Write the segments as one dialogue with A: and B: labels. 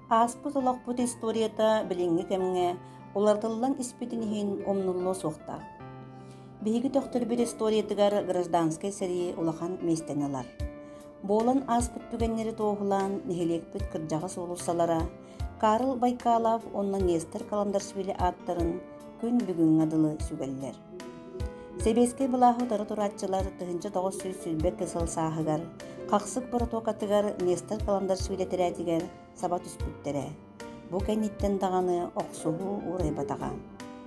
A: Ааспыт олохпут историята билиҥҥи кэмҥэ уларытыллан испитин иһин умнуллуо суохтаах. Биһиги төхтөрбүт историятыгар гражданскай сэрии улахан миэстэни ылар. Буолан ааспыт түгэннэри туоһулаан нэһилиэкпит кырдьаҕас уулуссалара Карл Байкалов уонна Нестер Каландаршвили ааттарын күн бүгүҥҥэ дылы сүгэллэр. Сэбиэскэй былааһы утары турааччылар тыһыынча тоҕус сүүс сүүрбэкэ сыл сааһыгар хахсык боротуокатыгар Нестер Каландаршвили тирээтигэр саба түспүттэрэ. Бу кэнниттэн даҕаны охсуһуу уурайбатаҕа.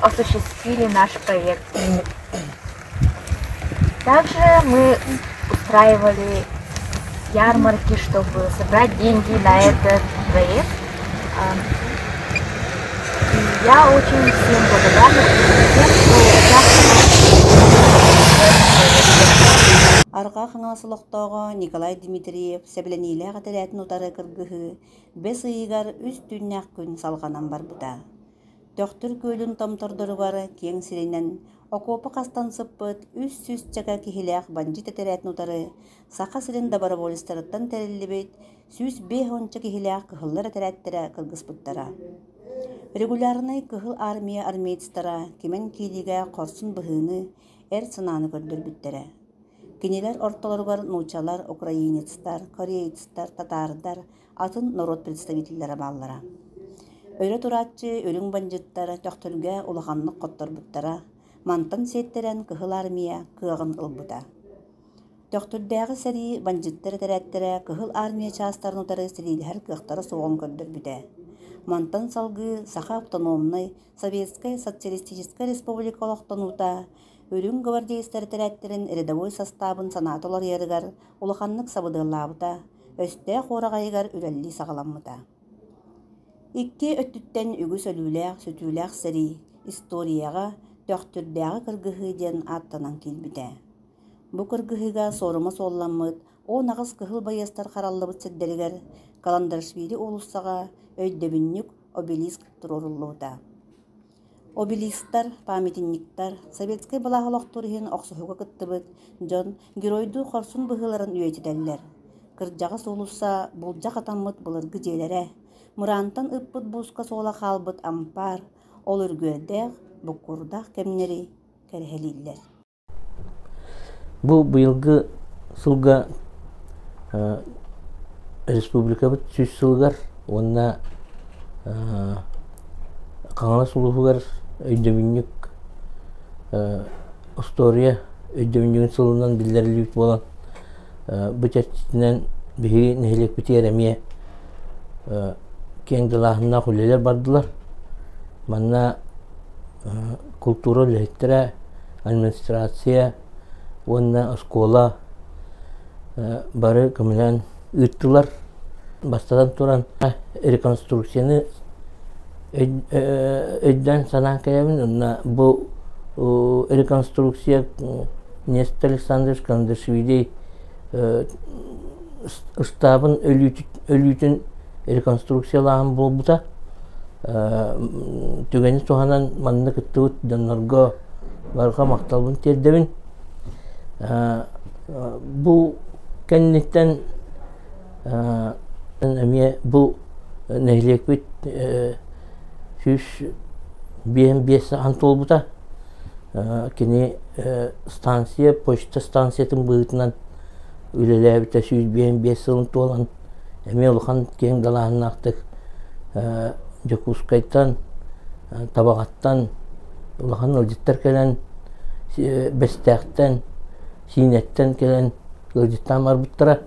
A: осуществили наш проект мир. Также мы устраивали ярмарки, чтобы собрать деньги на этот проект. И я очень всем благодарна, Арҕаа Хаҥалас олохтооҕо Николай Дмитриев сэбилэниилээх этэрээтин утары кыргыһыы бэс ыйыгар үс түүннээх күн салҕанан барбыта. Төхтүр күөлүн томтордоругар киэҥ сиринэн окуопа хастан сыппыт үс сүүсчэкэ киһилээх бандьыыт тэтэрээтин утары Саха сирин доброволецтарыттан тэриллибит сүүс биэс уонча киһилээх кыһыллар этэрээттэрэ кыргыспыттара. Регулярнай Кыһыл Армия армеецтара кимэн киириигэ хорсун быһыыны, эр санааны көрдөрбүттэрэ. Кинилэр ортолоругар нуучалар, украинецтар, кореецтар, татаардар, атын норуот представителлэрэ бааллара. Өрө турааччы үрүҥ бандьыттар төхтүргэ улаханнык хотторбуттара, мантан сиэттэрэн Кыһыл Армия кыаҕын ылбыта. Төхтүрдээҕи сэрии бандьыттар этэрээттэрэ Кыһыл Армия чаастарын утары силиилэһэр кыахтара суоҕун көрдөрбүтэ. Мантан салгыы Саха автономнай Советскай Социалистическай Республика олохтонуута үрүҥ гвардеецтар этэрээттэрин рядовой састаабын санаата уларыйарыгар улаханнык сабыдыаллаабыта, өстөөх уораҕайыгар үлэлии саҕаламмыта. Икки өттүттэн үгүс өлүүлээх, сүтүүлээх сэрии историяҕа Төхтүрдээҕи кыргыһыы диэн ааттанан киирбитэ. Бу кыргыһыыга суорума суолламмыт он аҕыс кыһыл байыастар хараллыбыт сирдэригэр Каландаршвили уулуссаҕа өйдөбүнньүк обелиск туруоруллубута. Обелисктар, памятниктар, советскай былаас олохтуур иһин охсуһууга кыттыбыт дьон геройдуу хорсун быһыыларын үйэтитэллэр. Кырдьаҕас уулусса буулдьа хатаммыт былыргы дьиэлэрэ, мыраантан ыппыт бууска суола хаалбыт ампаар, ол үргүөрдээх, буккуурдаах кэмнэри кэрэһэлииллэр Бу быйылгы сылга республикабыт сүүс сылыгар уонна Хаҥалас улууһугар өйдөбүнньүк остуоруйа өйдөбүнньүгүн сылынан биллэриллибит буолан Бу чэрчитинэн биһиги нэһилиэкпитигэр эмиэ киэҥ далааһыннаах үлэлэр бардылар. Манна култуура үлэһиттэрэ, администрация уонна оскуола бары көмүнэн ыыттылар. Бастатан туран, реконструкцияны өйдөөн-санаан кэйэбин уонна бу реконструкция Нестор Александрович Кандашвили ыстаабын өлүүтүн реконструкциялааһын буолбута түгэни туһанан манна кыттыбыт дьоннорго барҕа махталбын тиэрдэбин бу кэнниттэн эмиэ бу нэһилиэкпит сүүс биэс биэс саҕан туолбута кини станция почта станциятын быһыытынан үлэлээбитэ сүүс биэс биэс сылын туолан эмиэ улахан киэҥ далааһыннаахтык Дьокуускайтан Табаҕаттан улахан ыалдьыттар кэлэн Бэстээхтэн Киинэттэн кэлэн ыалдьыттаан барбыттара.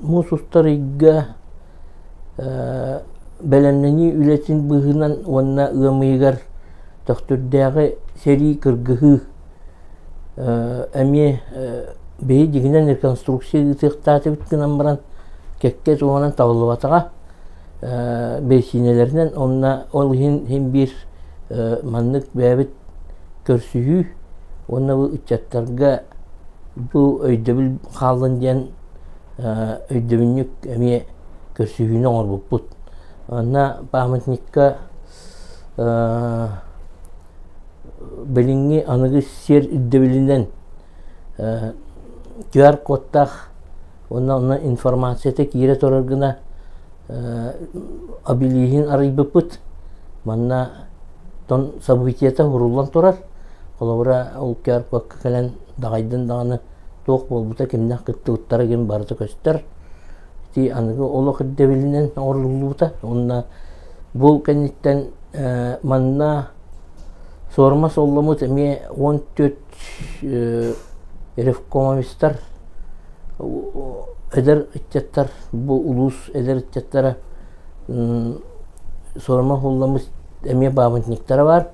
A: Муус устар ыйга бэлэмнэнии үлэтин быыһынан уонна ыам ыйыгар Төхтүрдээҕи сэрии кыргыһыы эмиэ бэйи дигинэн реконструкция ыытыахтаатыбыт гынан баран кэккэ туһанан табыллыбатаҕа. бэйсиинэлэринэн онно ол иһин биир маннык бэйэбит көрсүһүү уонна бу ыччаттарга бу өйдөбүл хааллын диэн өйдөбүнньүк эмиэ көрсүһүүнү оҥорбуппут онно памятникка билиҥҥи аныгы сиэр ирдэбилинэн QR кодтаах уонна онно информацията киирэ турар гына абилииһин арыйбыппыт манна тон событията уруллан турар холобура ол кэрпакка кэлэн даҕайдын даҕаны туох буолбута кимнээх кыттыбыттара гин барыта көстөр ити аныгы олох ирдэбилинэн оҥоруллубута уонна бу кэнниттэн манна суорма солломут эмиэ уон төрт Ревкомовецтар эдэр ыччаттар бу улуус эдэр ыччаттара суорума уһулламмыт эмиэ баабынньыктара баар.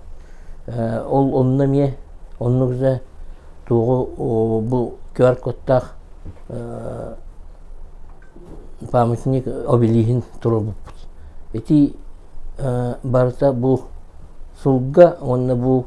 A: Ол онно эмиэ оннук да туоҕу бу QR-кодтаах памятник обелиһин туруорбуппут. Ити барыта бу сылга уонна бу